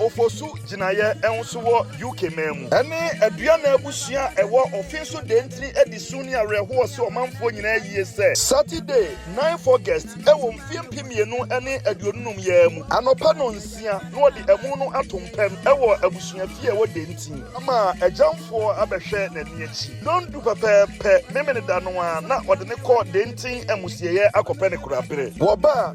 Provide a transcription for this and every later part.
Ofosu gyinaeɛ nso wɔ UK man mu. Ɛne Aduana abusua a ɛwɔ Ofinso Dentini adi su ne awerɛhoɔ sɛ ɔmanfoɔ nyinaa yie sɛ. Saturday, ninth August wɔ mfeɛ mpem mmienu ne aduonu num yi ara mu, anɔpa nnɔnsia na wɔde amu no ato mpɛn wɔ abusua fie a ɛwɔ Dentini. Ama agyamfoɔ abɛhwɛ n'ani akyi. Nnɔndu pɛpɛɛpɛ Memeneda no ara na wɔde no kɔ Dentini amusieɛ akɔpɛ ne koraberɛ. Wɔba a,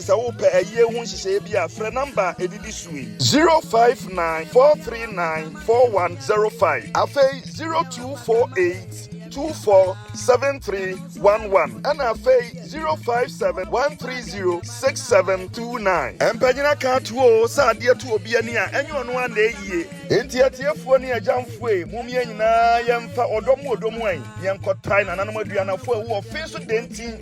Sɛ wopɛ ayie ho nhyehyɛeɛ bi a, frɛ nɔmba a ɛdidi so yi. 059 439 4105, afei 0248 24 7311, ɛna afei 057 130 6729. Mpanyin aka ato o sɛ adeɛ to obi ani a, ɛnyɛ ɔno ara na ɛyie. Enti atiefoɔ ne agyamfoe, mom yɛn nyinaa yɛmfa ɔdɔ mu odɔ mu ɛ, yɛnkɔtae nananom aduanafo a ɛwɔ wɔ fe so dɛntin.